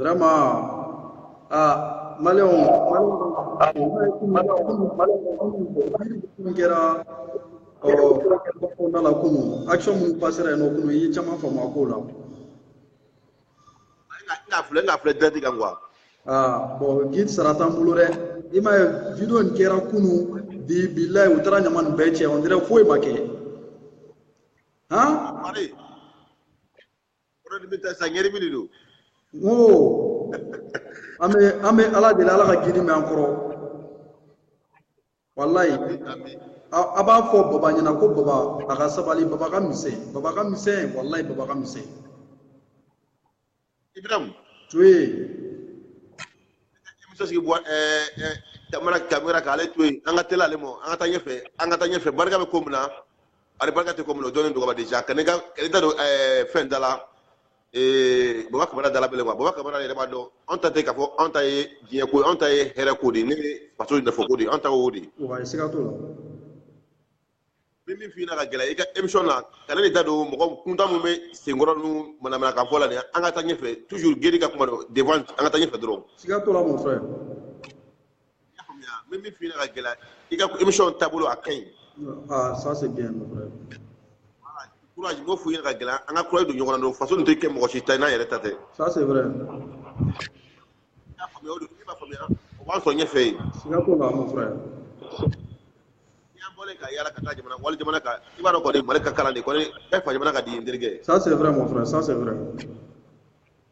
vraiment ah maliyɛnw kɛra kɔnɔna la kunu action minnu pasera yen nɔ kunu i ye caman faamu a ko la. n'a filɛ n'a filɛ direct kan quoi. aa bɔn gidi sara t'an bolo dɛ i m'a ye video nin kɛra kunu bi bilayi u taara ɲama nin bɛɛ cɛ on dirait foyi ma kɛ han. Kɔrɔdi bɛ taa sa ɲɛri de don n ko an bɛ an bɛ ala deli ala ka gidi mɛn an kɔrɔ walayi a b'a fɔ baba ɲɛna ko baba a ka sabali baba ka misɛn baba ka misɛn walayi baba ka misɛn ibram to ye muso sigi baba kamara k'ale to yen an ka teli ale ma an ka taa ɲɛfɛ an ka taa ɲɛfɛ barika bɛ ko min na ani barika tɛ ko min na o dɔnnen don ka ban déjà kana ne da don fɛn da la baba kamara da la bilen baba kamara yɛrɛ b'a dɔn anw ta tɛ k'a fɔ anw ta ye diɲɛ ko anw ta ye hɛrɛ ko de ne bɛ faso nafa ko de anw ta y'o de ye siga t'o la min min f'i ɲɛna ka gɛlɛya i ka émission na kana ne da don mɔgɔ kuntan minnu bɛ senkɔrɔ ninnu manamanakan fɔ la nin an ka taa ɲɛfɛ toujours gidi ka kuma don devant an ka taa ɲɛfɛ dɔrɔn siga t'o la mon frère Min bɛ f'i ka gɛlɛya i ka émission taabolo a ka ɲi courage b'o f'i ka gɛlɛya an ka courage don ɲɔgɔn na faso tɛ kɛ mɔgɔ si ta n'an yɛrɛ ta tɛ b'an sɔrɔ ɲɛfɛ yen bɔra ka yala ka taa jamana wali jamana kan i b'a dɔn mali ka kalan fa jamana ka di terikɛ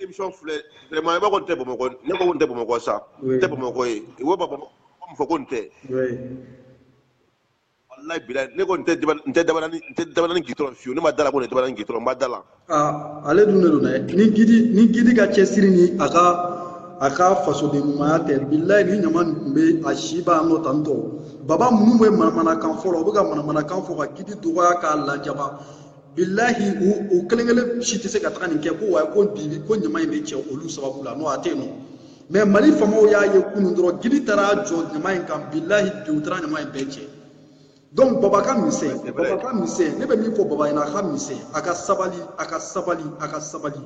émission filɛ vraiment i b'a fɔ n tɛ bamakɔ ne ko n tɛ bamakɔ sa n tɛ bamakɔ ye i ko bamakɔ n fɔ ko n tɛ walayi bilayi ne ko n tɛ n tɛ dabanani n tɛ dabanani gitɔrɔn fiyewu ne ma da a la ko nin dabanani gitɔrɔn n ma da a la ale dun de don dɛ ni gidi ni gidi ka cɛsiri ni a ka a ka fasoden ɲumanya tɛ bilayi ni ɲama nin tun bɛ a si b'a nɔ tan tɔ baba minnu bɛ manamanakan fɔ la u bɛ ka manamanakan fɔ ka gidi dɔgɔya k'a lajaba bilahi u kelen kelen si tɛ se ka taga nin kɛ ko wa ko bi ko ɲama in bɛ cɛ olu sababu la n'o a tɛ yen nɔ mais mali faamaw y'a ye kunun dɔrɔn gidi taara jɔ ɲama in kan bilahi bi u taara ɲama in bɛɛ cɛ donc baba ka misɛn baba ka misɛn ne bɛ min fɔ baba ɲɛna a ka misɛn a ka sabali a ka sabali a ka sabali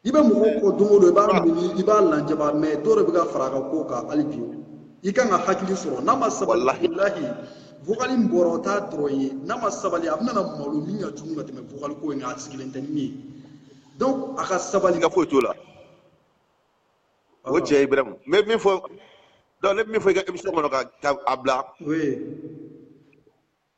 i bɛ mɔgɔ kɔ don o don i b'a miiri i b'a lajaba mais dɔw de bɛ ka fara a ka ko kan hali bi i kan ka hakili sɔrɔ n'a ma sabali bilahi vokali in bɔra o t'a dɔrɔn ye n'a ma sabali a bɛna na malo min ka jugu ka tɛmɛ vokali ko in kan a sigilen tɛ min ye donc a ka sabali siga foyi t'o la o cɛ ibrahim n bɛ min fɔ donc ne bɛ min fɔ i ka émission kɔnɔ ka a bila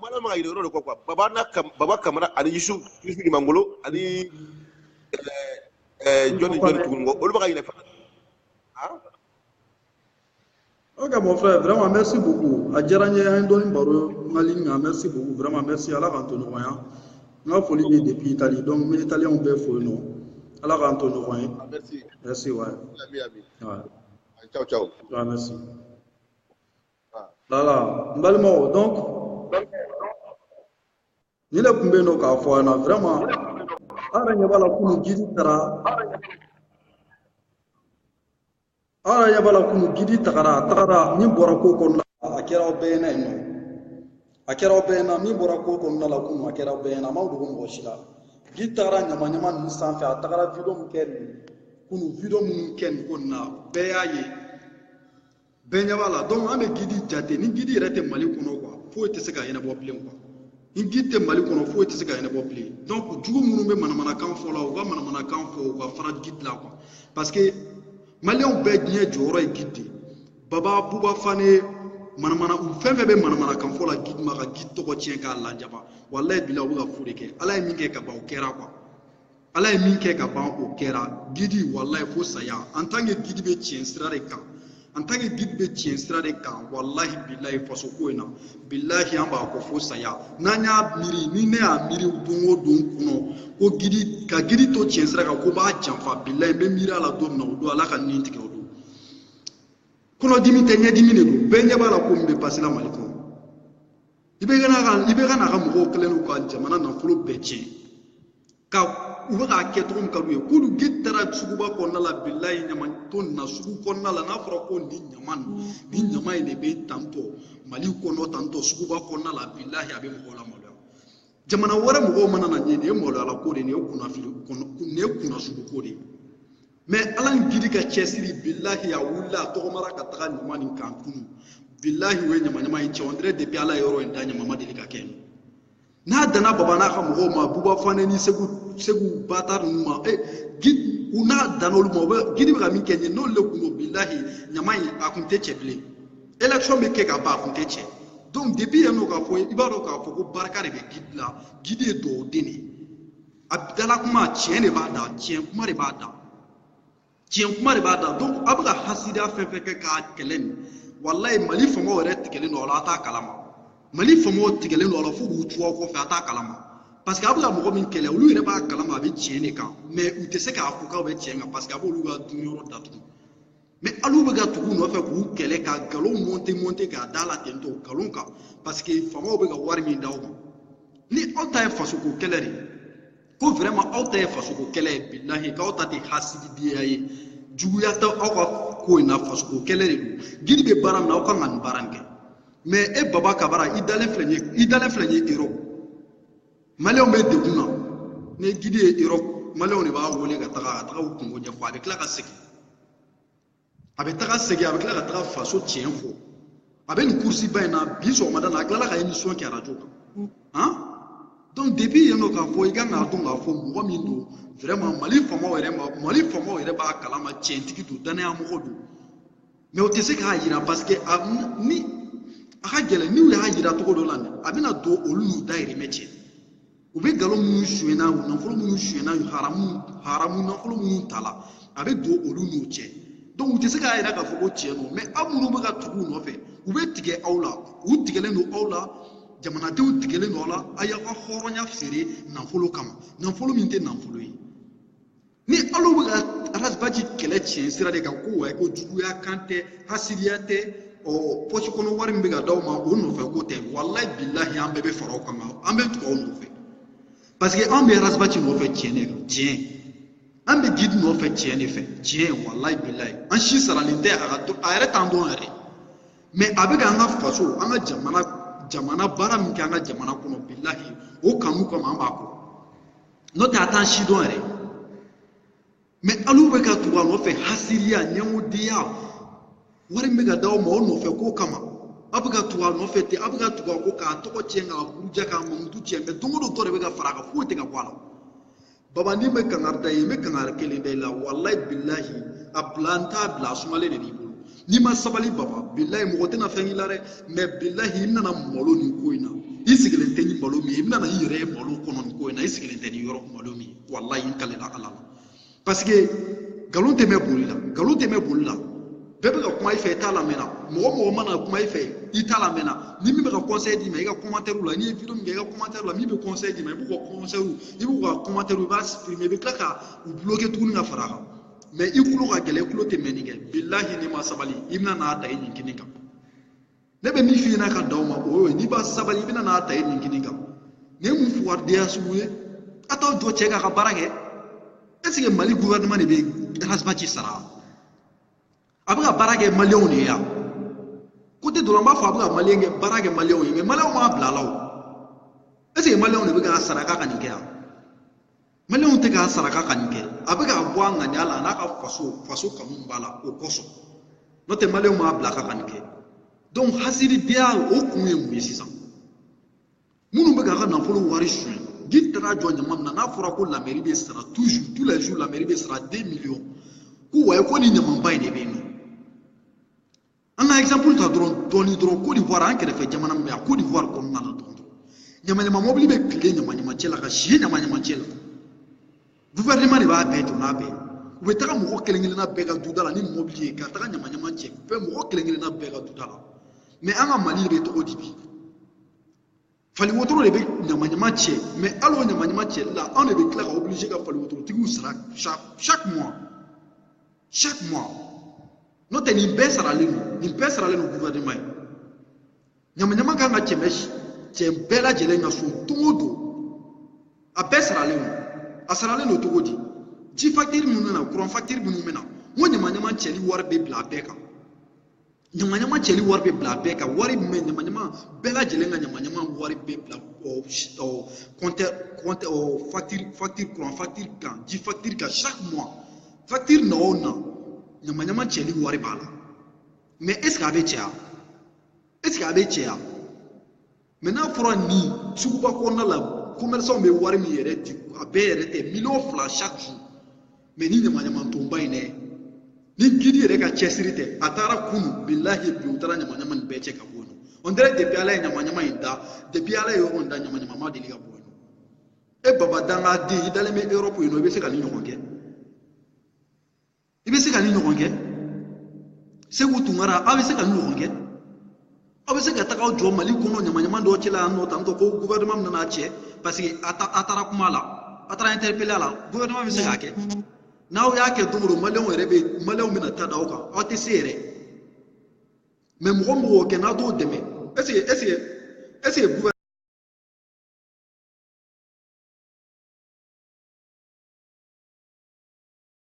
Maliyɛn bɛ ka ɲinɛ yɔrɔ de kɔ quoi baba baba kamara ani yusu ɲumangolo ani jɔnni jɔn tugun bɔ olu bɛ ka ɲinɛ Ok mon frère, vraiment merci beaucoup. A diyara n ye an ye dɔɔni baro n ka ligne kan merci beaucoup vraiment merci Ala k'an to ɲɔgɔn ye. N ka foli bɛ depuis Italie donc n bɛ Italiens bɛɛ fo yen nɔ. Ala k'an to ɲɔgɔn ye. Ah, merci. Merci ouais. Ami ami. Ouais. Ciao ciao. Ouais, merci. voilà n balimaw donc nin de tun bɛ yen nɔ k'a fɔ a ɲɛna vraiment an yɛrɛ ɲɛ b'a la kunu gidi taara an yɛrɛ ɲɛ b'a la kunu gidi tagara a tagara min bɔra ko kɔnɔna la a kɛra aw bɛɛ ɲɛna yen nɔ a kɛra aw bɛɛ ɲɛna min bɔra ko kɔnɔna la kunu a kɛra aw bɛɛ ɲɛna a ma dogo mɔgɔ si la gidi tagara ɲama ɲama ninnu sanfɛ a tagara video min kɛ nin kunu video minnu kɛ nin ko nin na bɛɛ y'a ye bɛɛ ɲɛ b'a la donc an bɛ gidi jate ni gidi yɛrɛ tɛ mali kɔnɔ quoi foyi tɛ se ka ɲɛnabɔ bilen quoi ni gidi tɛ mali kɔnɔ foyi tɛ se ka ɲɛnabɔ bilen donc jugu minnu bɛ manamanakan fɔ la u ka manamanakan fɔ u ka fara gidi la quoi parce que maliyɛnw bɛɛ diɲɛ jɔyɔrɔ ye gidi de baba buba fane manamana u fɛn fɛn bɛ manamanakan fɔ la gidi ma ka gidi tɔgɔ tiɲɛ k'a lajaba walayi bilahi u bɛ ka fu de kɛ ala ye min kɛ ka ban o kɛra quoi ala ye min kɛ ka ban o kɛra gidi walayi fo saya en tant que gidi bɛ tiɲɛ sira de kan en tant que gidi bɛ tiɲɛ sira de kan walahi bilayi faso ko in na bilahi an b'a kɔ fo saya n'an y'a miiri ni ne y'a miiri don o don kɔnɔ ko gidi ka gidi to tiɲɛ sira kan ko b'a janfa bilayi n bɛ miiri a la don min na o don ala ka nin tigɛ o don kɔnɔdimi tɛ ɲɛdimi de don bɛɛ ɲɛ b'a la ko min bɛ passer la mali kɔnɔ IBK n'a IBK n'a ka mɔgɔw kɛlen don ka jamana nafolo bɛɛ tiɲɛ ka u bɛ k'a kɛ cogo min ka d'u ye kunu gidi taara suguba kɔnɔna la bilayi ɲama to nin na sugu kɔnɔna la n'a fɔra ko nin ɲama nin ɲama in de bɛ tantôt mali kɔnɔ tantôt suguba kɔnɔna la bilayi a bɛ mɔgɔw lamaloya jamana wɛrɛ mɔgɔw mana na nin ye nin ye maloya ko de ye nin ye kunnafili nin ye kunnasugu ko de ye mais ala ni gidi ka cɛsiri bilahi a wulila a tɔgɔmara ka taga ɲama nin kan kunu bilahi o ye ɲamaɲama in cɛ on dirait depuis ala ye yɔrɔ in da ɲama ma deli ka kɛ n'a danna baba n'a ka mɔgɔw ma buba fane ni segu segu bâtard ninnu ma e gidi u n'a danna olu ma u bɛ gidi bɛ ka min kɛ ɲɛ n'olu le kun don bilahi ɲama in a kun tɛ cɛ bilen élection bɛ kɛ ka ban a kun tɛ cɛ donc depuis yen nɔ k'a fɔ i b'a dɔn k'a fɔ ko barika de bɛ gidi la gidi ye duwawu den de ye a dala kuma tiɲɛ de b'a da tiɲɛ kuma de b'a da tiɲɛ kuma de b'a da donc a bɛ ka hasidiya fɛn fɛn kɛ k'a kɛlɛ nin walayi mali faamaw yɛrɛ tigɛlen don a la a t'a kalama mali faamaw tigɛlen don a la fo k'u tugu a kɔfɛ a t'a kalama parce que a bɛ ka mɔgɔ min kɛlɛ olu yɛrɛ b'a kalama a bɛ tiɲɛ de kan mais u tɛ se k'a fɔ k'aw bɛ tiɲɛ kan parce que a b'olu ka dunyɔrɔ datugu mais alu bɛ ka tugu nɔfɛ k'u kɛlɛ ka nkalon monter monter k'a da la ten tɔ nkalon kan parce que faamaw bɛ ka wari min d'aw ma ni aw ta ye fasoko kɛlɛ de ye ko vraiment aw ta ye fasoko kɛlɛ ye bilahi k'aw ta tɛ hasididenya ye juguya tɛ aw ka ko in na fasoko kɛlɛ de don gidi bɛ baara min na aw kan ka nin baara in kɛ mais e baba kabara i dalen filɛ nin ye Europe maliyɛnw bɛ degun na ni gidi ye Europe maliyɛnw de b'a wele ka taga ka taga u kungo ɲɛfɔ a bɛ tila ka segin a bɛ taga segin a bɛ tila ka taga faso tiɲɛ fɔ a bɛ nin kurusi ba in na bi sɔgɔmada la a tilala ka émission kɛ arajo kan mm. han donc depuis yen nɔ k'a fɔ i kan k'a dɔn k'a fɔ mɔgɔ min don vraiment mali faamaw yɛrɛ b'a kalama tiɲɛtigi don danaya mɔgɔ don mais o tɛ se k'a jira parce que a ni a ka gɛlɛn n'u y'a jira cogo dɔ la a bɛna don olu n'u dayirimɛ cɛ u bɛ nkalon minnu sonyɛnna u nafolo minnu sonyɛnna haramu haramu nafolo minnu ta la a bɛ don olu n'u cɛ donc u tɛ se k'a jira k'a fɔ ko tiɲɛ don mais aw minnu bɛ ka tugu u nɔfɛ u bɛ tigɛ aw la u tigɛlen don aw la jamanadenw tigɛlen don aw la a y'aw ka hɔrɔnya feere nafolo kama nafolo min tɛ nafolo ye ni alu bɛ ka rasbaci kɛlɛ tiɲɛ sira de kan ko wa ko juguya kan tɛ hasidiya tɛ ɔ pɔsi kɔnɔ wari min bɛ ka d'aw ma o nɔfɛ ko tɛ walayi bilahi an bɛɛ bɛ fara aw kan an bɛ tugu aw nɔfɛ parce que an bɛ rasbaci nɔfɛ tiɲɛ de kan tiɲɛ an bɛ gidi nɔfɛ tiɲɛ de fɛ tiɲɛ walayi bilayi an si saralen tɛ a yɛrɛ t'an dɔn yɛrɛ mais a bɛ ka an ka faso an ka jamana baara min kɛ an ka jamana kɔnɔ bilahi o kanu kama an b'a kɔ n'o tɛ a t'an si dɔn yɛrɛ mais alu bɛ ka tugu a nɔfɛ hasiriya ɲɛngodenya wari min bɛ ka d'aw ma o nɔfɛ ko kama a bɛ ka tugu a nɔfɛ ten a bɛ ka tugu a kɔ k'a tɔgɔ tiɲɛ k'a buruja k'a mamutu tiɲɛ mais don o don dɔ de bɛ ka fara a kan foyi tɛ ka bɔ a la baba ne bɛ kangari da i ye n bɛ kangari kelen da i la walayi bilahi a bila n t'a bila a sumalen de b'i bolo n'i ma sabali baba bilayi mɔgɔ tɛna fɛn k'i la dɛ mais bilayi i nana malo nin ko in na i sigilen tɛ ni malo min ye i bɛna i yɛrɛ ye malo kɔnɔ nin ko in na i sigilen tɛ ni yɔrɔ malo min ye walayi n kalela ala la parce que nkalon tɛ mɛn boli la nkalon tɛ mɛn boli la bɛɛ bɛ ka kuma i fɛ i t'a lamɛnna mɔgɔ mɔgɔ mana kuma i fɛ i t'a lamɛnna ni min bɛ ka conseil d'i ma i ka commentaire la n'i ye vidéo min kɛ i ka commentaire la min bɛ conseil d'i ma i b'u ka conseil i b'u ka commentaire i b'a supprimer i bɛ tila ka u bloquer tuguni ka fara a kan mais i kulo ka gɛlɛn i kulo tɛ mɛnni kɛ bilahi n'i ma sabali i bɛna na ta i nin kini kan ne bɛ min f'i ɲɛna ka dan o ma o ye n'i ma sabali i bɛna na ta i nin kini kan nin ye mun fugaridenya sugu ye a t'aw jɔ cɛ k'a ka baara kɛ est-ce que mali gouvernement de bɛ rasbaci sara a bɛ ka baara kɛ maliyɛnw de ye yan côté dɔ la n b'a fɔ a bɛ ka maliyɛn kɛ baara kɛ maliyɛnw ye mais maliyɛnw m'a bila a la o est-ce que maliyɛnw de bɛ ka sara k'a ka nin kɛ yan maliyɛnw tɛ k'a sara k'a ka nin kɛ a bɛ k'a bɔ a ŋaniya la a n'a ka faso faso kanu b'a la o kosɔn n'o tɛ maliyɛnw m'a bila k'a ka nin kɛ donc hasidenya o kun ye mun ye sisan minnu bɛ k'a ka nafolo wari suɲɛ guide taara jɔ ɲama min na n'a fɔra ko la mairie bɛ sara toujours tous les jours la mairie bɛ sara deux millions ko wayi ko nin ɲamanba in de bɛ yen nɔ an ka exemple ta dɔrɔn dɔɔni dɔrɔn côte d'ivoire an kɛrɛfɛ jamana min bɛ yan côte d'ivoire kɔnɔna la dɔrɔn ɲamaɲama mɔbili bɛ tile ɲamaɲama cɛ la ka si ɲamaɲama cɛ la gouvernement de b'a bɛɛ jɔ n'a bɛɛ u bɛ taga mɔgɔ kelen kelenna bɛɛ ka duda la ni mɔbili ye ka taga ɲamaɲama cɛ bɛɛ mɔgɔ kelen kelenna bɛɛ ka duda la mais an ka mali bɛ cogo di bi fali wotoro de bɛ ɲama ɲama cɛ mais hali o ɲama ɲama cɛli la anw de bɛ tila ka obligé ka fali wotorotigiw sara chaque mois chaque mois n'o tɛ nin bɛɛ saralen don nin bɛɛ saralen don gouvernement ye ɲama ɲama kan ka cɛ bɛɛ lajɛlen ka so don o don a bɛɛ saralen don a saralen don cogo di ji facture minnu bɛ na courant facture minnu bɛ na n ko ɲama ɲama cɛli wari bɛ bila a bɛɛ kan ɲama ɲama cɛli wari bɛ bila a bɛɛ kan wari min bɛ ɲama ɲama bɛɛ lajɛlen ka ɲama ɲama wari bɛ bila kɔntɛ kɔntɛ facture facture courant facture kan ji facture kan chaque mois facture na o na ɲama ɲama cɛli wari b'a la mais est ce que a bɛ cɛ yan est ce que a bɛ cɛ yan mais n'a fɔra nin suguba kɔnɔna la commerçant bɛ wari min yɛrɛ di a bɛɛ yɛrɛ tɛ miliyɔn fila chaque jour mais ni ɲamanɲamantonba in dɛ ni guide yɛrɛ ka cɛsiri tɛ a taara kunu bilahi bi u taara ɲamanɲaman nin bɛɛ cɛ ka bɔ yen nɔ on dirait depuis ala ye ɲamanɲaman in da depuis ala ye yɔrɔ in da ɲamanɲaman ma deli ka bɔ yen nɔ e baba dangaden i dalen bɛ europe yen nɔ i bɛ se ka nin ɲɔgɔn kɛ i bɛ se ka nin ɲɔgɔn kɛ seku tunkara aw bɛ se ka nin ɲɔgɔn kɛ aw bɛ se ka taga aw jɔ mali kɔnɔ ɲamaɲama dɔ cɛ la yan nɔ tant que gouvernement min nana cɛ parce que a taara kuma la a taara interpellé a la gouvernement bɛ se k'a kɛ n'aw y'a kɛ don o don maliyɛnw yɛrɛ bɛ maliyɛnw bɛna taa da aw kan aw tɛ se yɛrɛ mais mɔgɔ min b'o kɛ n'a t'o dɛmɛ est ce que est ce que est ce que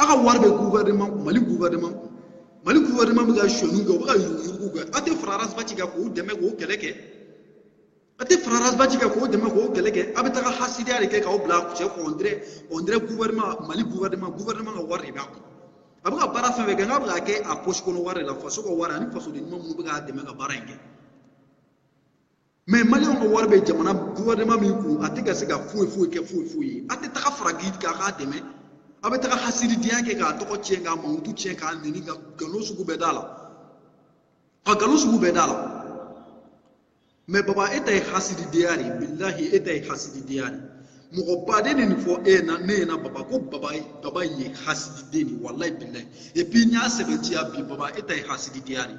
aw ka wari bɛ gouvernement mali gouvernement kun mali gouvernement bɛ ka sonyani kɛ u bɛ ka yuruguyurugu kɛ aw tɛ fara arasibati kan k'o dɛmɛ k'o kɛlɛ kɛ a tɛ fara arasibati kan k'o dɛmɛ k'o kɛlɛ kɛ aw bɛ taga hasidiya de kɛ k'aw bila cɛ kɔ on dirait on dirait gouvernement mali gouvernement gouvernement ka wari de b'a kun a bɛ ka baara fɛn fɛn kɛ n'a bɛ k'a kɛ a poche kɔnɔ wari de la faso ka wari ani fasoden ɲuman minnu bɛ k'a dɛmɛ ka baara in kɛ mɛ maliyɛnw ka wari bɛ jamana guvɛrɛnema min kun a tɛ ka se ka foyi foyi kɛ foyi foyi ye a tɛ taga fara gidi kan k'a dɛmɛ a bɛ taga hasidenya kɛ k'a tɔgɔ tiɲɛ k'a mankutu tiɲɛ k'a neni ka nkalon sugu bɛɛ d'a la ka nkalon sugu bɛɛ d'a la mɛ baba e ta ye hasidenya de ye bilahi e ta ye hasidenya de ye mɔgɔ baden de nin fɔ e na ne ɲɛna baba ko baba baba ye hasididen de ye walayi bilayi epi n y'a sɛbɛntiya bi baba e ta ye hasidenya de ye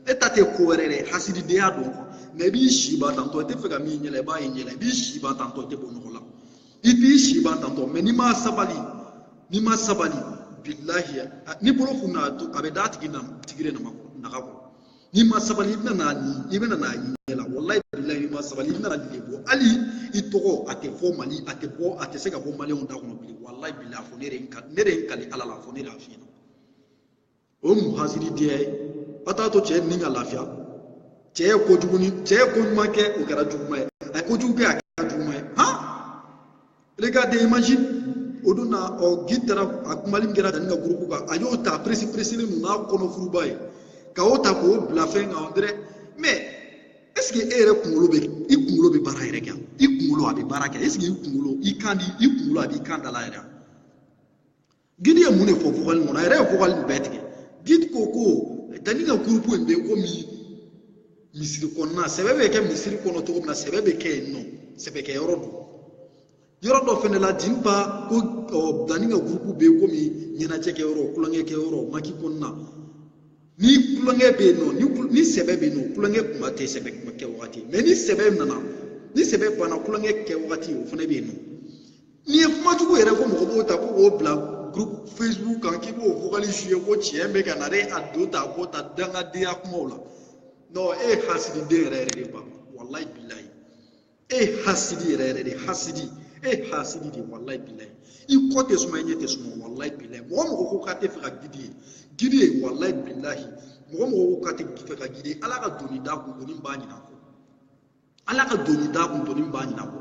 e ta tɛ ko wɛrɛ dɛ hasididenya don kuwa mɛ i b'i si ban tantɔ i tɛ fɛ ka min ɲɛla i b'a ye ɲɛla i b'i si ban tantɔ i tɛ bɔ nɔgɔ la i b'i si ban tantɔ mɛ n'i ma sabali n'i ma sabali bilahi ni bolo funna a bɛ d'a tigi na tigi de nama naga kɔrɔ n'i ma sabali i bɛna n'a ni i bɛna n'a ye ɲɛ la walayi bilahi n'i ma sabali i bɛna n'a de bɔ hali i tɔgɔ a tɛ fɔ mali a tɛ bɔ a tɛ se ka bɔ maliyɛnw da kɔnɔ bilen walayi bilahi a fɔ ne de ye n ka ne de ye n kali ala la a fɔ ne de y'a f'i ɲɛna o ye mun hasidenya ye aw t'a to cɛ nin ka lafiya cɛ ye kojugu ni cɛ ye ko ɲuman kɛ o kɛra juguman ye a ye kojugu kɛ a kɛra juguman ye han regardez imagine o don na ɔ gidi taara a kumali min kɛra dani ka gurupu kan a y'o ta peresi peresilen don n'a kɔnɔfuruba ye ka o ta k'o bila fɛn kan dɛrɛ mɛ ɛseke e yɛrɛ kunkolo bɛ i kunkolo bɛ baara yɛrɛ kɛ i kunkolo a bɛ baara kɛ ɛseke i kunkolo i kan di i kunkolo a b'i kan da la yɛrɛ gidi ye mun de fɔ vocal kɔnɔ a yɛrɛ ye vocal nin bɛɛ tigɛ gidi ko ko dani ka gurupu in bɛ komi misiri kɔnɔna sɛbɛ bɛ kɛ misiri kɔnɔ cogo min na sɛbɛ bɛ kɛ yen nɔ sɛbɛ kɛ yɔrɔ don yɔrɔ dɔ fɛnɛ la dinba ko ɔ dani ka gurupu bɛ komi ɲɛnajɛ kɛ yɔrɔ tulonkɛ kɛ yɔrɔ maki kɔnɔna ni tulonkɛ bɛ yen nɔ ni ni sɛbɛ bɛ yen nɔ tulonkɛ kuma tɛ sɛbɛ kuma kɛ wagati mɛ ni sɛbɛ nana ni sɛbɛ banna tulonkɛ kɛ wagati o fana bɛ yen nɔ nin ye kuma jugu yɛrɛ ko mɔgɔ b'o ta ko k'o bila groupe facebook kan k'i b'o vocal jouer ko tiɲɛ bɛ ka na dɛ a don ta a b'o ta dangadenya kumaw la non e ye hasididen yɛrɛ yɛrɛ de ba walayi bilayi e ye hasidi yɛrɛ yɛrɛ de hasidi e ye hasidi de walayi bilayi i kɔ tɛ suma i ɲɛ tɛ suma walayi bilayi mɔgɔ mɔgɔ ko k'a tɛ fɛ ka gidi ye gidi ye walayi bilayi mɔgɔ mɔgɔ ko k'a tɛ fɛ ka gidi ye ala ka doni da kun doni b'a ɲinan kɔ ala ka doni da kun doni b'a ɲinan kɔ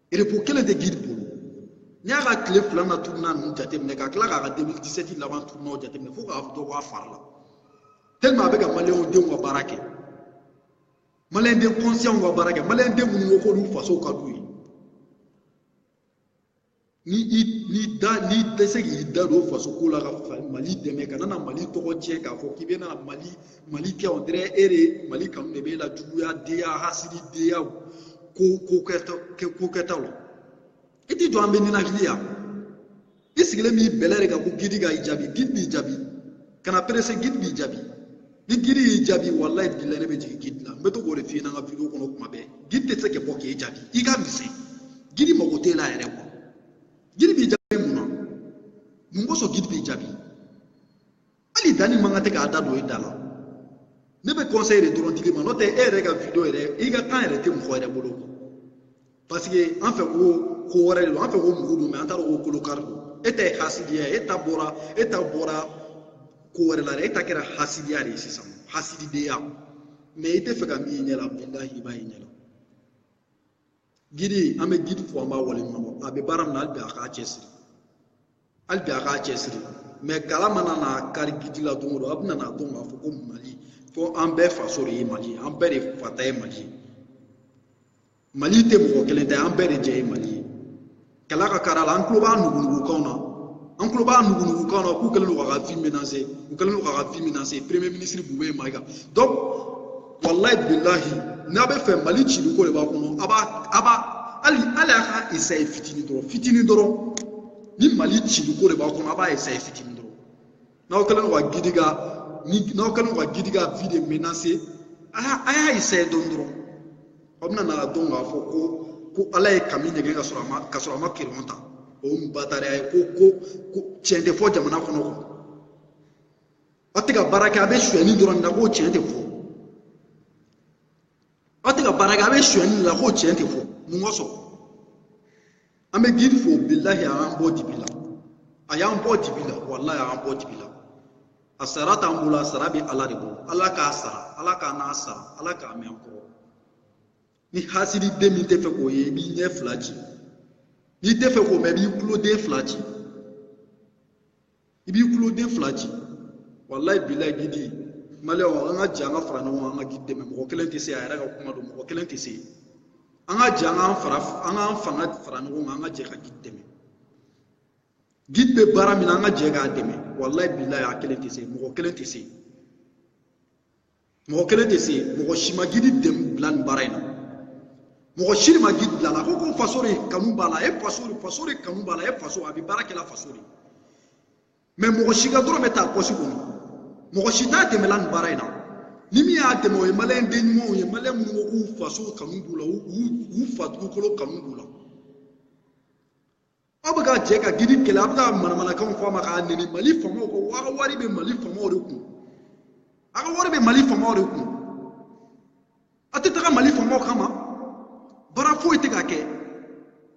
repo kelen tɛ gidi bolo n'i y'a ka tile fila na turuna ninnu jateminɛ ka tila k'a ka 2017 laban turunaw jateminɛ fo k'a dɔ bɔ a fari la tellement a bɛ ka maliyɛnw denw ka baara kɛ maliyɛn den kɔnsiyɛnw ka baara kɛ maliyɛn den minnu ko k'olu faso ka d'u ye ni i ni da n'i tɛ se k'i da don faso ko la ka mali dɛmɛ kana na mali tɔgɔ tiɲɛ k'a fɔ k'i bɛ na mali mali kɛ on dirait e de mali kanu de b'e la juguya denya hasididenya ko ko kɛta ko kɛtaw la i t'i jɔ an bɛ ninakili yan i sigilen b'i bɛlɛ de kan ko gidi ka i jaabi gidi b'i jaabi kana perese gidi b'i jaabi ni gidi y'i jaabi walayi bilayi ne bɛ jigin gidi la n bɛ to k'o de f'i ɲɛna n ka video kɔnɔ kuma bɛɛ gidi tɛ se ka bɔ k'e jaabi i ka misɛn gidi mago t'e la yɛrɛ kuwa gidi b'i jaabi mun na mun kosɔn gidi b'i jaabi hali danni mago tɛ k'a da don i da la ne bɛ kɔnsɛyi de dɔrɔn di l'i ma n'o tɛ e yɛrɛ ka video yɛrɛ i ka kan yɛrɛ tɛ mɔgɔ yɛrɛ bolo parce que an fɛ ko ko wɛrɛ de don an fɛ ko mugu don mɛ an t'a dɔn ko kolo kari don e ta ye hasidiya ye e ta bɔra e ta bɔra ko wɛrɛ la dɛ e ta kɛra hasidiya de ye sisan hasididenya mɛ i tɛ fɛ ka min ye ɲɛ la bilahi i b'a ye ɲɛ la gidi an bɛ gidi fo an b'a waleɲumandɔn a bɛ baara min na hali bi a k'a cɛsiri hali bi a k'a cɛsiri mɛ kala mana na kari gidi la don o don a bɛna n'a dɔn k'a fɔ ko mali ko an bɛɛ faso de ye mali ye an bɛɛ de fa ta ye mali ye mali tɛ mɔgɔ kelen ta ye an bɛɛ de jɛ ye mali ye kala ka kar'a la an tulo b'a nugunugukanw na an tulo b'a nugunugukanw na k'u kɛlen don k'a ka vie menacer u kɛlen don k'a ka vie menacer premier ministre bubɛyi mayiga donc walayi bilahi n'a bɛ fɛ mali cili ko de b'a kɔnɔ a b'a a b'a hali hali a ka essaye fitinin dɔrɔn fitinin dɔrɔn ni mali cili ko de b'a kɔnɔ a b'a essaye fitinin n'aw kɛlen don ka gidi ka ni n'aw kɛlen don ka gidi ka vie de menacer a y'a a y'a essaye dɔɔnin dɔrɔn aw bɛna n'a dɔn k'a fɔ ko ko ala ye kami ɲɛgɛn k'a sɔrɔ a ma k'a sɔrɔ a ma kereyɔn ta o ye batariya ye ko ko ko tiɲɛ tɛ fɔ jamana kɔnɔ ko aw tɛ ka baara kɛ a bɛ sonyɛni dɔrɔn de la ko tiɲɛ tɛ fɔ aw tɛ ka baara kɛ a bɛ sonyɛni de la ko tiɲɛ tɛ fɔ mun kosɔn an bɛ gidi fo bilahi a y'an bɔ dibi la a y'an bɔ dibi la walahi a y'an bɔ dibi la a sara t'an bolo a sara bɛ ala de bolo ala k'a sara ala k'a n'a sara ala k'a mɛn an kɔrɔ ni hasidi den min tɛ fɛ k'o ye i b'i ɲɛ fila ci n'i tɛ fɛ k'o mɛn i b'i kuloden fila ci i b'i kuloden fila ci walayi bilayi gidi maliyɛnw an ka jɛ an ka fara ɲɔgɔn kan an ka gidi dɛmɛ mɔgɔ kelen tɛ se a yɛrɛ ka kuma don mɔgɔ kelen tɛ se an ka jɛ an k'an fara an k'an fanga fara ɲɔgɔn kan an ka jɛ ka gidi dɛmɛ gidi bɛ baara min na an ka jɛ k'a dɛmɛ walayi bilayi a kelen tɛ se mɔgɔ kelen tɛ se mɔgɔ kelen tɛ se mɔgɔ si ma gidi dɛmɛ bila nin baara in na mɔgɔ si ma gidi bil'a la ko ko faso de kanu b'a la e faso de faso de kanu b'a la e faso a bɛ baara kɛ la faso de ye mɛ mɔgɔ si ka dɔrɔmɛ t'a pɔsi kɔnɔ mɔgɔ si t'a dɛmɛ la nin baara in na ni min y'a dɛmɛ o ye maliyɛn den ɲumanw ye maliyɛn minnu ko k'u faso kanu b'u la u fa dugukolo kanu b'u la aw bɛ ka jɛ ka gidi kɛlɛ a bɛ ka manamanakanw fɔ a ma k'a nɛni mali faamaw ko aw ka wari bɛ mali faamaw de kun a ka wari bɛ mali faamaw de kun a tɛ taga mali faamaw kama baara foyi tɛ ka kɛ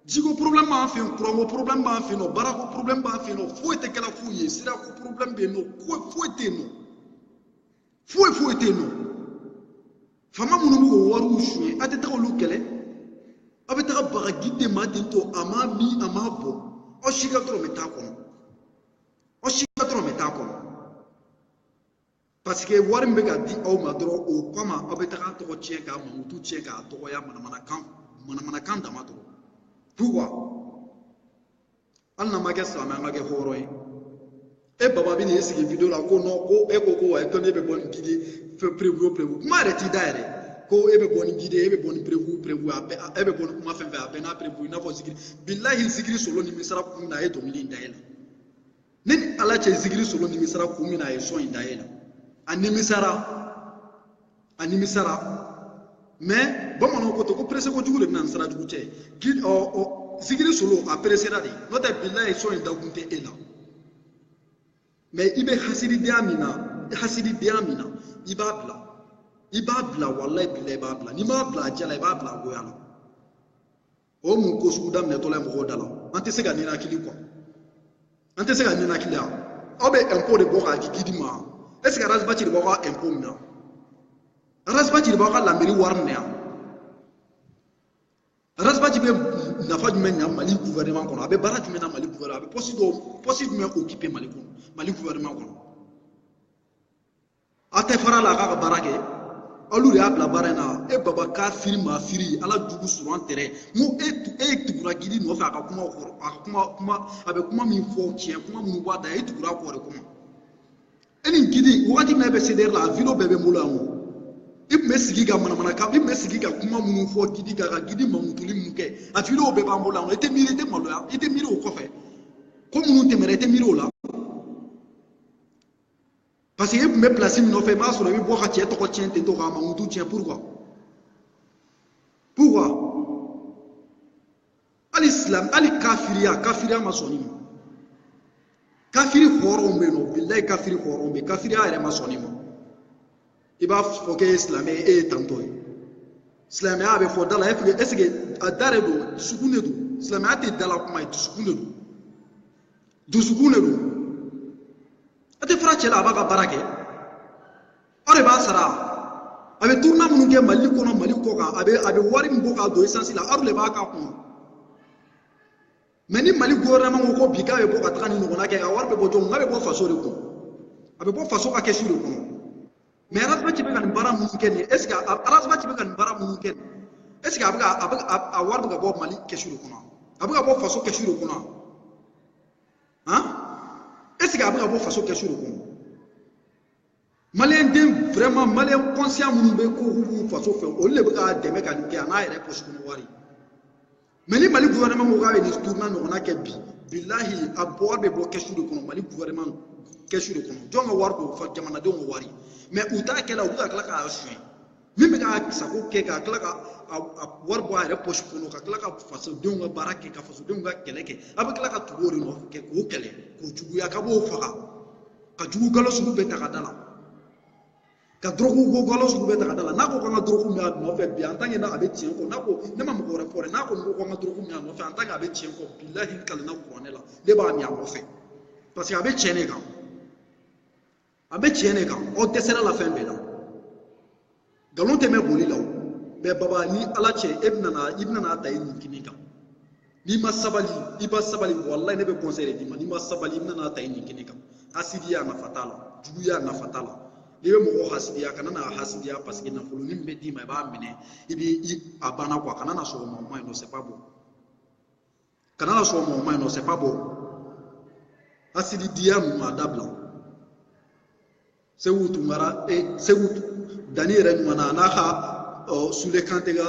jiko porobilɛmu b'an fɛ yen kuranko porobilɛmu b'an fɛ yen nɔ baarako porobilɛmu b'an fɛ yen nɔ foyi tɛ kɛla foyi ye sirako porobilɛmu bɛ yen nɔ foyi tɛ yen nɔ foyi foyi tɛ yen nɔ faama minnu b'o wariw suɲɛ a tɛ taga olu kɛlɛ aw bɛ taga baga gidi ma ten tɔ a ma min a ma bɔ aw si ka dɔrɔmɛ ta kɔnɔ aw si ka dɔrɔmɛ ta kɔnɔ parce que wari min bɛ ka di aw ma dɔrɔn o kama aw bɛ taga a tɔgɔ tiɲɛ k'a mankutu tiɲɛ k'a dɔgɔya manamanakan manamanakan dama dɔrɔn pourquoi hali n'an ma kɛ silamɛ an ka kɛ hɔrɔn ye e baba bɛ n'i sigi video la ko nɔ ko e ko ko wa e tɔnden bɛ bɔ ni gidi perewu perewu kuma yɛrɛ t'i da yɛrɛ ko e bɛ bɔ ni gidi e bɛ bɔ ni perewu perewu a bɛɛ e bɛ bɔ ni kuma fɛn fɛn a bɛɛ n'a perewu i n'a fɔ zikiri bilahi zikiri solo nimisara kun na a ye dɔnkili in da e la ne ni ala cɛ zikiri solo nimisara kun min na a ye sɔn in da e la a nimisara a nimisara mɛ bamananw ko ten ko perese kojugu de bɛ na ni sara jugu cɛ gidi ɔ ɔ zikiri solo a peresera de n'o tɛ bilayi sɔn in dakun tɛ e la mɛ i bɛ hasididenya min na hasididenya min na i b'a bila i b'a bila walayi bilayi i b'a bila n'i m'a bila a diya la i b'a bila a goya la o mun ko sugu daminɛtɔla ye mɔgɔw da la an tɛ se ka ninakili quoi an tɛ se ka ninakili yan aw bɛ ɛnpo de bɔ k'a di gidi ma ɛseke e arasibaci de b'aw ka ɛnpo minɛ arasibaci de b'aw ka lamɛri wari minɛ yan arasibaci bɛ nafa jumɛn ɲa mali gouvernement kɔnɔ a bɛ baara jumɛn na mali gouvernement a bɛ pɔsi dɔw pɔsi jumɛn okipe mali kɔnɔ mali gouvernement kɔnɔ aw tɛ fara a la a k'a ka baara kɛ alu de y'a bila baara in na e baba kafiri mafiri ala jugu sɔrɔ an tɛrɛ n ko e e tugura gidi nɔfɛ a ka kuma kɔrɔ a kuma kuma a bɛ kuma min fɔ tiɲɛ kuma minnu b'a da e tugura kɔrɔ de kuma e ni gidi wagati min na e bɛ sedɛri la a video bɛɛ bɛ n bolo yan o i tun bɛ sigi ka manamana kan i tun bɛ sigi ka kuma minnu fɔ gidi kan ka gidi mamutuli minnu kɛ a video bɛɛ b'an bolo yan o i tɛ miiri i tɛ maloya i tɛ miiri o kɔfɛ ko minnu tɛmɛna i tɛ miiri o la parce que e tun bɛ pilasi min nɔfɛ i m'a sɔrɔ i bɛ bɔ ka cɛ tɔgɔ tiɲɛ ten tɔ k'a mankutu tiɲɛ pourquoi pourquoi hali silam hali kafiriya kafiriya ma sɔn nin ma kafiri hɔrɔnw bɛ yen nɔ bilayi kafiri hɔrɔnw bɛ yen kafiriya yɛrɛ ma sɔn nin ma i b'a fɔ k'e ye silamɛ ye e ye tantɔ ye silamɛya bɛ fɔ da la ɛseke a da de don dusukun de don silamɛya tɛ dala kuma ye dusukun de don dusukun de don a tɛ fara cɛ la a b'a ka baara kɛ aw de b'a sara a bɛ turuna minnu kɛ mali kɔnɔ mali kɔ kan a bɛ a bɛ wari min bɔ k'a don esansi la a yɛrɛ de b'a k'a kun mɛ ni mali gouvernement ko ko bi k'a bɛ bɔ ka taga nin ɲɔgɔnna kɛ a wari bɛ bɔ jɔn kun a bɛ bɔ faso de kun a bɛ bɔ faso ka kɛsu de kɔnɔ mɛ arazibati bɛ ka nin baara minnu kɛ nin ye ɛseke arazibati bɛ ka nin baara minnu kɛ nin ɛseke a bɛ ka a bɛ a wari bɛ ka bɔ mali kɛsu de kɔnɔ a bɛ ka bɔ faso kɛsu de kɔnɔ han eseke a bɛ ka bɔ faso kɛsu de kɔnɔ maliyɛn den vraiment maliyɛn kɔnsiyan minnu bɛ ko k'u b'u faso fɛ olu de bɛ k'a dɛmɛ ka nin kɛ a n'a yɛrɛ pɔsi kɔnɔ wari mɛ ni mali gouvernement ko k'a bɛ nin tourna ɲɔgɔnna kɛ bi bilahi a wari bɛ bɔ kɛsu de kɔnɔ mali gouvernement kɛsu de kɔnɔ jɔn ka wari don jamanadenw ka wari mɛ u t'a kɛ la u bɛ ka tila k'a suɲɛ min bɛ k'a sago kɛ ka tila ka wari bɔ a yɛrɛ pɔsi kɔnɔ ka tila ka fasodenw ka baara kɛ ka fasodenw ka kɛlɛ kɛ a bɛ tila ka tugu o de nɔfɛ kɛ k'o kɛlɛ k'o juguya ka b'o faga ka jugu nkalon sugu bɛɛ ta k'a da a la ka dɔrɔgu ko nkalon sugu bɛɛ ta k'a da a la n'a ko k'an ka dɔrɔgu min a nɔfɛ bi an tan n'a a bɛ tiɲɛ kɔ n'a ko ne ma mɔgɔ wɛrɛ fɔ dɛ n'a ko ko k'an ka dɔrɔgu min a nɔfɛ an tan a bɛ tiɲɛ kɔ bilahi kalan na kuranɛ la ne b'a min a nɔfɛ parce que a bɛ tiɲɛ de kan a bɛ tiɲɛ de kan aw dɛsɛra a la fɛn bɛɛ la nkalon tɛ mɛɛn boli la o bɛ baba ni ala cɛ e bɛna i bɛna ta i nin kini kan n'i ma sabali i ba sabali walayi ne bɛ kɔnsɛyi de d'i ma n'i ma sabali i bɛna ta i nin kini kan hasidiya nafa t'a la juguya nafa t'a la n'i bɛ mɔgɔ hasidiya kana na hasidiya paseke nafolo nin bɛ d'i ma i b'a minɛ i b'i a banna kuwa kana na sɔn o ma o ma ɲi non c'est pas bon kana na sɔn o ma o ma ɲi non c'est pas bon hasidiya ninnu a dabila seku tunkara e seku danni yɛrɛ ɲuman na a n'a ka ɔ sule kante ka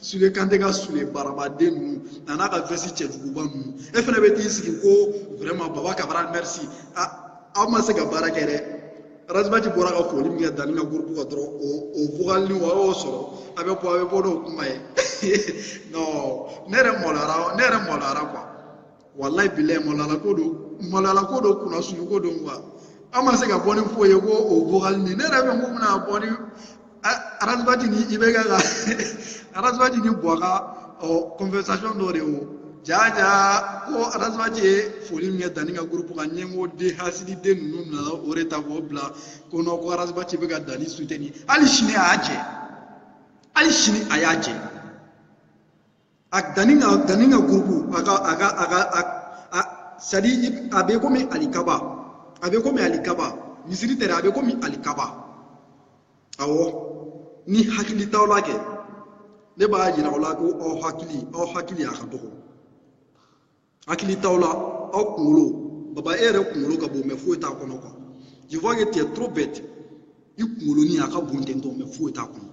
sule kante ka sule barabaden ninnu a n'a ka vɛsi cɛjuguba ninnu e fana bɛ t'i sigi ko vraiment baba kabara merci a aw ma se ka baara kɛ dɛ razibati bɔra ka foli min kɛ danni ka gurupu kan dɔrɔn o o vokali nin o y'o sɔrɔ a bɛ bɔ a bɛ bɔ n'o kuma ye non ne yɛrɛ maloyara ne yɛrɛ maloyara quoi walayi bilayi malo la ko don malo la ko don kunnasuuli ko don quoi aw ma se ka bɔ ni foyi ye kɔ o vokali nin ne yɛrɛ bɛ mun bɛna bɔ ni arazibati ni ibeka ka arazibati ni buwa ka ɔ conversation dɔ de wo jaja ko arazibati ye foli min kɛ danni ka gurupu kan ɲɛngo den hasidi den ninnu nana o de ta k'o bila ko non ko arazibati bɛ ka danni suteni hali sini a y'a jɛ hali sini a y'a jɛ a danni ka danni ka gurupu a ka a ka a ka a sadi a bɛ komi alikaba a bɛ komi alikaba misiri tɛrɛ a bɛ komi alikaba awɔ ni hakili t'aw la kɛ ne b'a yira aw la ko aw hakili aw hakili a ka dɔgɔ hakili t'aw la aw kunkolo baba e yɛrɛ kunkolo ka bon mais foyi t'a kɔnɔ quoi je vois que tu es trop bête i kunkolonin a ka bon ten tɔ mais foyi t'a kɔnɔ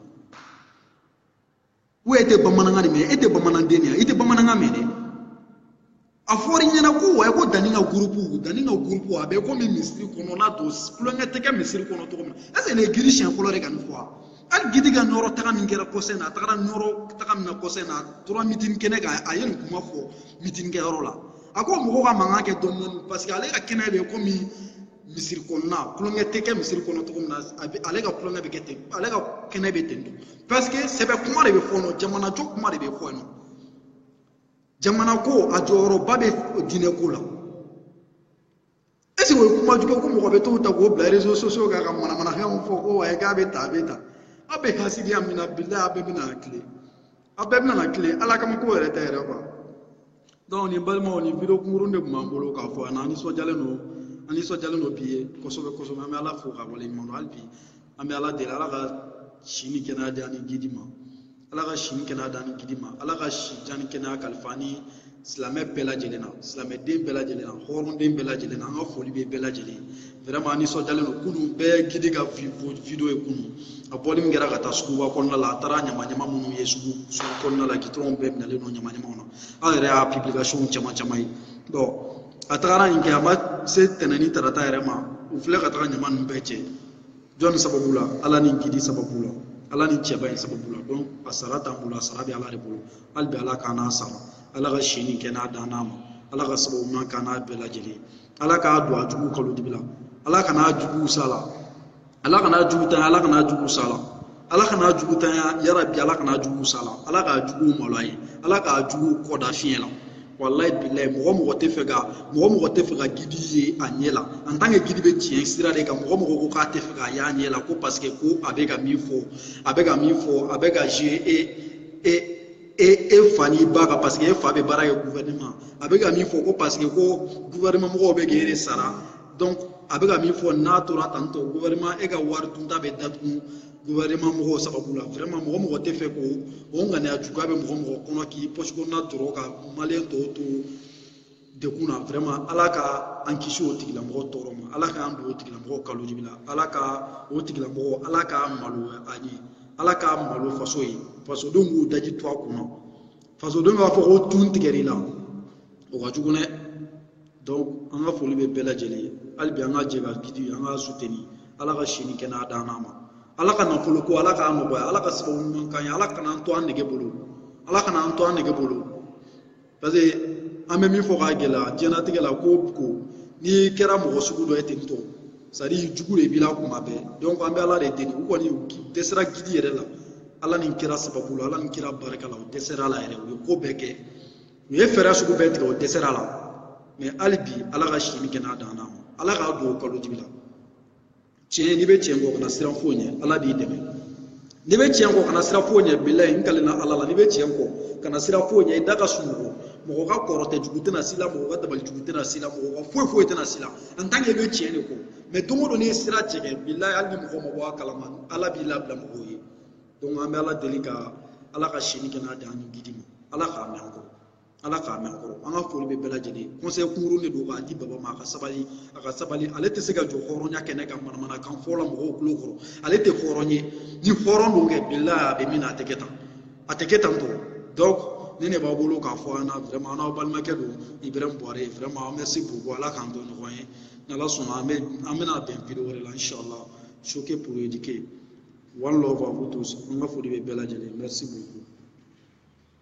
ko e tɛ bamanankan de mɛn e tɛ bamananden de ye i tɛ bamanankan mɛn dɛ a fɔra i ɲɛna ko wa ko danni ka gurupu danni ka gurupu a bɛ komi misiri kɔnɔna don kulonkɛ tɛ kɛ misiri kɔnɔ cogo min na eseke nin ye gidi siɲɛ fɔlɔ de ka nin fɔ wa hali gidi ka nɔrɔ taga min kɛra kɔsɛn na a tagara nɔrɔ taga min na kɔsɛn na a tora mitini kɛnɛ kan a ye nin kuma fɔ mitini kɛyɔrɔ la a ko mɔgɔw ka mankan kɛ dɔɔni dɔɔni paseke ale ka kɛnɛ bɛ komi misiri kɔnɔna kulonkɛ tɛ kɛ misiri kɔnɔ cogo min na a bɛ ale ka kulonkɛ bɛ kɛ ten ale ka kɛnɛ bɛ ten don paseke sɛbɛ kuma de bɛ fɔ nɔ jamanajɔ kuma de bɛ fɔ nɔ jamana ko a jɔyɔrɔba bɛ diinɛ ko la eseke o ye kuma jugu ko mɔgɔ bɛ t'o ta k'o bila réseaux sociaux kan ka manamanafɛnw fɔ ko wayi k'a bɛ ta a bɛ ta aw bɛ hasidiya min na bilayi a bɛɛ bɛna tile aw bɛɛ bɛna tilen ala kama ko yɛrɛ tɛ yɛrɛ quoi donc nin balimaw nin video kunkurun de tun b'an bolo k'a fɔ an nisɔndiyalen don an nisɔndiyalen don bi ye kosɛbɛ kosɛbɛ an bɛ ala fo ka waleɲuman dɔn hali bi an bɛ ala deli ala ka si ni kɛnɛya di an ni gidi ma ala ka si ni kɛnɛya di an ni gidi ma ala ka si jan ni kɛnɛya kalifa an ni silamɛ bɛɛ lajɛlen na silamɛden bɛɛ lajɛlen na hɔrɔnden bɛɛ lajɛlen na an ka foli bɛ bɛɛ lajɛlen vraiment an nisɔndiyalen don kunu bɛɛ gidi ka video ye kunu a bɔli min kɛra ka taa suguba kɔnɔna la a taara ɲama ɲama minnu ye sugu sugu kɔnɔna la gitɔrɔnw bɛɛ minɛlen don ɲama ɲamaw na an yɛrɛ y'a publication caman caman ye donc a tagara nin kɛ a ma se tɛnɛn ni tarata yɛrɛ ma u filɛ ka taga ɲama ninnu bɛɛ cɛ jɔnni sababu la ala ni gidi sababu la ala ni cɛba in sababu la donc a sara t'an bolo a sara bɛ ala de bolo hali bi ala k'an n'a sara ala ka si ni kɛnɛya d'an n'a ma ala ka sababu ɲuman k'an n'a bɛɛ lajɛlen ala k'a don a jugu kalo dibi la ala kan'a jugu sa la ala kan'a jugu tanya ala kan'a jugu sa la ala kan'a jugu tanya yarabi ala kan'a jugu sa la ala k'a jugu maloya ye ala k'a jugu kɔda fiɲɛ la walayi bilayi mɔgɔ mɔgɔ tɛ fɛ ka mɔgɔ mɔgɔ tɛ fɛ ka gidi ye a ɲɛ la en tant que gidi bɛ tiɲɛ sira de kan mɔgɔ mɔgɔ ko k'a tɛ fɛ k'a y'a ɲɛ la ko paseke ko a bɛ ka min fɔ a bɛ ka min fɔ a bɛ ka e e e e fa n'i ba kan paseke e fa bɛ baara kɛ gouvernement a bɛ ka min fɔ ko paseke ko gouvernement mɔgɔw bɛ k'e de sara donc a bɛ ka min fɔ n'a tora tan tɔ gouvernement e ka wari dunta bɛ datugu gouvernement mɔgɔw sababu la vraiment mɔgɔ mɔgɔ tɛ fɛ ko o ŋaniya juguya bɛ mɔgɔ mɔgɔ kɔnɔ k'i pɔsi kɔnɔna tɔɔrɔ ka maliyɛn tɔw to dekun na vraiment ala ka an kisi o tigilamɔgɔ tɔɔrɔ ma ala k'an don o tigilamɔgɔ kalo dibi la ala ka o tigilamɔgɔ ala k'a malo a ye ala k'a malo faso ye fasodenw k'u daji tu a kunna fasodenw b'a fɔ ko tun tigɛr'i la o ka jugu dɛ donc an ka foli bɛ bɛɛ lajɛlen ye hali bi an ka jɛ ka gidi an ka suteni ala ka si ni kɛnɛya d'an ma ala ka nafolo ko ala k'a nɔgɔya ala ka sababu ɲuman k'an ye ala kana an to an nege bolo ala kana an to an nege bolo paseke an bɛ min fɔ k'a gɛlɛya diɲɛnatigɛ la ko ko n'i kɛra mɔgɔ sugu dɔ ye ten tɔ sadi jugu de b'i la kuma bɛɛ donc an bɛ ala de deli u kɔni dɛsɛra gidi yɛrɛ la ala ni kira sababu la ala ni kira barika la u dɛsɛr'a la yɛrɛ u ye ko bɛɛ kɛ u ye fɛɛrɛ sugu bɛɛ tigɛ u dɛsɛr'a la mɛ hali bi ala ka si ni kɛnɛya d'an n'a ma ala k'a don o kalo dibi la tiɲɛ n'i bɛ tiɲɛ kɔ kana siran foyi ɲɛ ala b'i dɛmɛ n'i bɛ tiɲɛ kɔ kana siran foyi ɲɛ bilayi n kalenna ala la n'i bɛ tiɲɛ kɔ kana siran foyi ɲɛ i da ka sunɔgɔ mɔgɔ ka kɔrɔtɛ jugu tɛna s'i la mɔgɔ ka dabali jugu tɛna s'i la mɔgɔ ka foyi foyi tɛna s'i la en tant que i bɛ tiɲɛ de kɔ mɛ don o don n'i ye sira tigɛ bilayi hali ni mɔgɔ ma bɔ a kalama ala b'i labila mɔgɔw ye donc an bɛ ala deli ka ala ka si ni kɛnɛya d'an ni gidi ma ala k'a mɛn an kɔrɔ ala k'a mɛn an kɔrɔ an ka foli bɛ bɛɛ lajɛlen conseil kunkurun de don k'a di baba ma a ka sabali a ka sabali ale tɛ se ka jɔ hɔrɔnya kɛnɛ kan manamanakan fɔ la mɔgɔw kulo kɔrɔ ale tɛ hɔrɔn ye ni hɔrɔn don kɛ bilayi a bɛ min na a tɛ kɛ tan a tɛ kɛ tan tɔ donc nin de b'an bolo k'a fɔ an na vraiment n'aw balimakɛ don ibrahim buware vraiment merci beaucoup ala k'an to ɲɔgɔn ye n'ala sɔnna an bɛ an bɛna bɛn vidéo wɛrɛ la inshallah choqué pour éduquer one love à vous tous an ka foli bɛ bɛɛ lajɛlen merci beaucoup